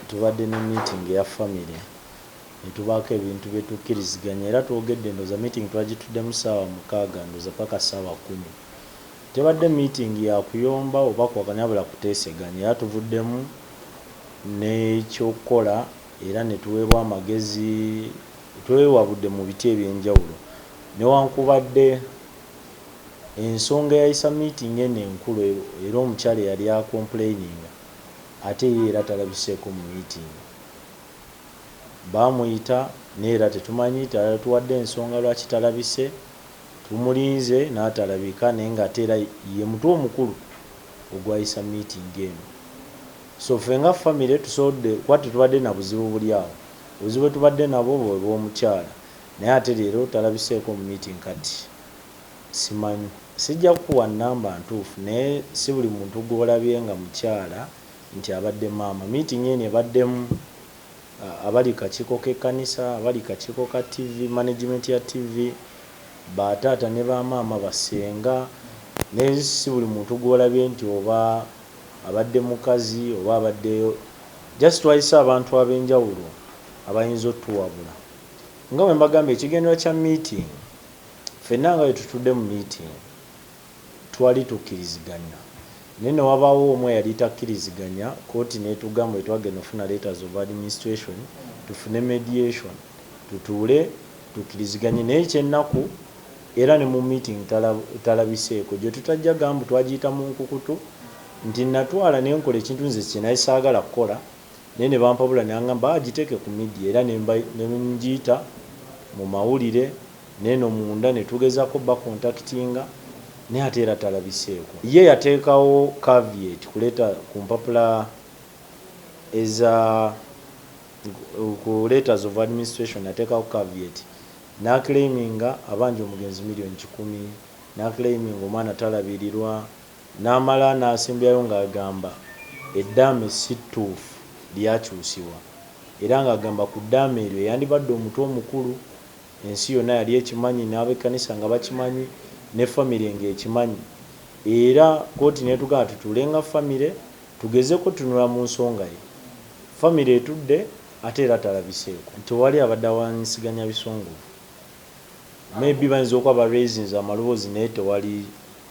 Tubadde ne meeting eya family netubaako ebintu byetukkiriziganya era twogedde ndowoza meeting twagituddemu ssaawa mukaaga ndowoza paka ssaawa kumi. Tebadde meeting ya kuyomba oba kuwakanya wabula kuteeseganya era tuvuddemu n'ekyokukola era netuweebwa amagezi twewabudde mu biti ebyenjawulo newankubadde ensonga eyayisa meeting eno enkulu era omukyala eyali a complaininga ate ye era talabiseeko mu miitingi. Baamuyita naye era tetumanyi, tatuwadde nsonga lwaki talabise. Tumulinze naye talabika naye ng'ate era ye mutwe omukulu ogwayisa miitingi eno. So ffe nga ffamire tusobodde kuba tetubadde na buzibu buli awo. Obuzibu bwe tubadde nabwo bwe bw'omukyala naye ate leero talabiseeko mu miitingi kati. simanyi. Sijja kukuwa nnamba ntuufu naye si buli muntu gw'olabye nga mukyala nti abadde maama. Meeting eno ebaddemu abali ku kakiiko k'ekkanisa, abali ku kakiiko ka ttivi, management ya ttivi, ba taata ne ba maama, ba ssenga naye si buli muntu gw'olabye nti oba abadde mukazi oba abadde just twayise abantu ab'enjawulo abayinza otuwabula. Nga bwe mbagambye ekigendererwa kya meeting. Ffenna nga bwe tutudde mu miitingi twali tukkiriziganya naye ne wabaawo omu eyali takkiriziganya kkooti n'etugamba bwe twagenda okufuna letters of administration tufune mediation tutuule tukkiriziganye naye eky'ennaku era ne mu miitingi talabiseeko. Gye tutajja gamba twagiyita mu nkukutu nti natwala ne nkola ekintu nze kye nali saagala kukola. naye ne bampabula ne angamba agiteeke ku media era ne ngiyita mu mawulire neeno munda ne tugezaako obba contactinga naye ate era talabiseeko. Ye yateekawo caveat kuleeta ku mpapula eza ku letters of administration ateekawo caveat n'aclaiminga abanja omugenzi million kikumi, n'aclaiminga omwana talabirirwa, Namala n'asembyayo ng'agamba eddaame si ttuufu lyakyusibwa era ng'agamba ku ddaame eryo eyandibadde omutwe omukulu ensi yonna yali ekimanyi n'abekkanisa nga bakimanyi ne famire ng'ekimanyi era kkooti n'etugamba tutuule nga famire tugezeko otunula mu nsonga ye famire etudde ate era talabiseeko. Tewali abadde awanyisiganya bisongovu. Maybe bayinza okuba ba raisinze amaloboozi naye tewali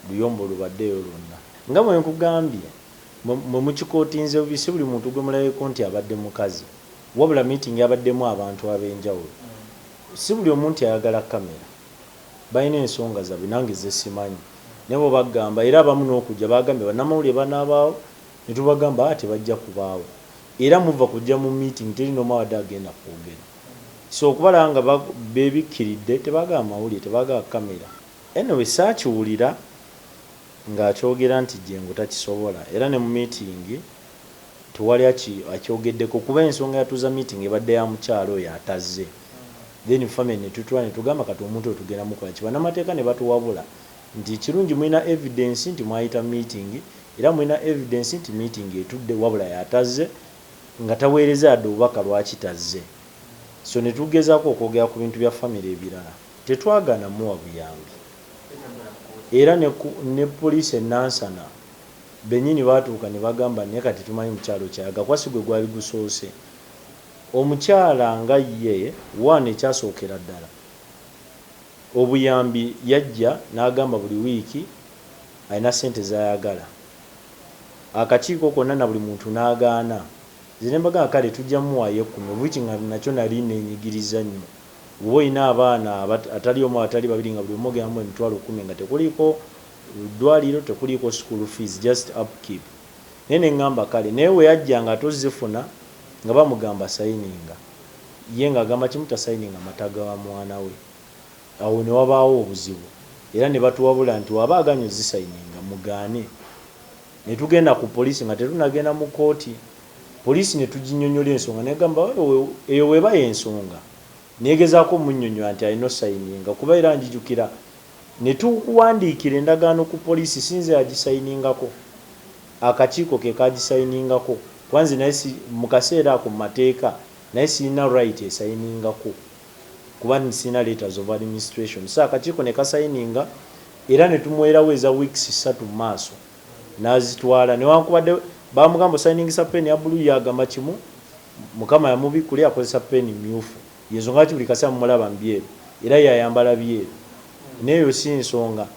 luyombo lubaddeyo lwonna. Nga bwe nkugambye, mmwe mukikotinze bubi, si buli muntu gwe mulabyeeko nti abadde mukazi. Wabula meeting yabaddemu abantu ab'enjawulo. Si buli omu nti ayagala camera. Balina ensonga zaabwe nange ze simanyi. Naye bo bagamba era abamu n'okujja baagambye bannamawulire banaabaawo ne tubagamba tebajja kubaawo. Era muvva kujja mu meeting teri n'omu abadde agenda kwogera. so okubalaba nga bebikiridde tebaga amawulire tebaga camera anyway sakiwulira nga akyogera nti jengo takisobola era ne mu meeting tewali akyogeddeko kuba ensonga yatuuza meeting ebadde ya mukyala oyo atazze then family netutula netugamba kati omuntu oyo tugenda mukolaki banamateeka nebatuwabula nti ekirungi mulina evidence nti mwayita meeting era mulina evidence nti meeting etudde wabula yatazze nga taweereza yadde obubaka lwaki tazze so ne tugezaako okwogera ku bintu bya famire ebirala tetwagaana muwa buyambi era ne ne poliisi e Nansana bennyini baatuuka ne bagamba naye kati tetumanyi mukyala okyayaga kuba si gwe gwali gusoose omukyala nga ye one ekyasookera ddala obuyambi yajja n'agamba buli wiiki alina ssente z'ayagala akakiiko konna na buli muntu n'agaana nze ne mbagamba kale tujja muwaayo ekkumi of which nga nakyo nali nneenyigirizza nnyo bw'oba olina abaana abat atali omu atali babiri nga buli omu ogenda mumuwa emitwalo kkumi nga tekuliiko ddwaliro tekuliiko school fees just upkeep naye ne ngamba kale naye bwe yajjanga ate ozzifuna nga bamugamba sayininga ye ng'agamba kimu tasayininga mata ga mwana we. Awo ne wabaawo obuzibu era ne batuwabula nti w'aba aganye ozisayininga mugaane. Ne tugenda ku poliisi nga tetunnagenda mu kkooti. Poliisi ne tuginnyonnyola ensonga n'egamba eyo bw'eba y'ensonga. Neegezaako omunnyonnyola nti alina osayininga kuba era njijukira ne tuwandiikira endagaano ku poliisi si nze yagisayiningako, akakiiko ke kaagisayiningako kuba nze nali mu kaseera ako mu mateeka nali sirina right esayiningako. kuba nti sirina letters of administration so akakiiko ne kasayininga era ne tumuweerawo eza weeks ssatu mu maaso n'azitwala newankubadde baamugamba osayiningisa ppeeni ya bbuluu ye agamba kimu Mukama yamubikkula yakozesa ppeeni mmyufu y'ensonga lwaki buli kaseera mumulaba mu byeru era y'ayambala byeru naye eyo si nsonga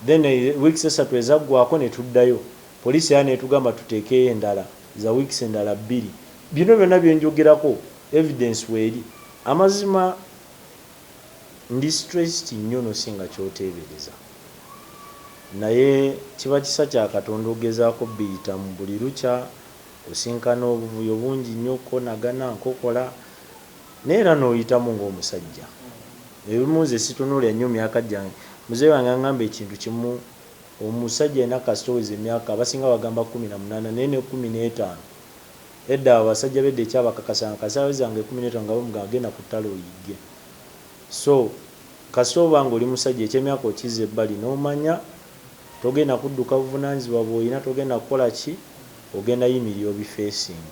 then eh, weeks essatu ezaggwaako ne tuddayo poliisi era n'etugamba tuteekeyo endala za weeks endala bbiri bino byonna bye njogerako Evidence weri. Amazima ndi stressed nyo no singa kyotebereza. Naye kiba kisa kya Katonda ogezako obiyitamu. Buli lukya osinkana obuvuyo bungi nyo okonagana, nkokola naye era noyitamu nga omusajja. Ebimu nze situnulira nyo myaka jange. Mzee wange angamba ekintu kimu omusajja yena kasita oweza emyaka abasinga bagamba kumi na munana naye ne kumi netano. Edda abo basajja be Decky abakakasanga kasita aweza nga ekumi netano nga bamugamba genda ku tale oyigge so kasita oba nga oli musajja ekyemyaka okizza ebbali nomanya togenda kudduka buvunanyizibwa bwoyina togenda kukola ki ogenda yimirira obi facing.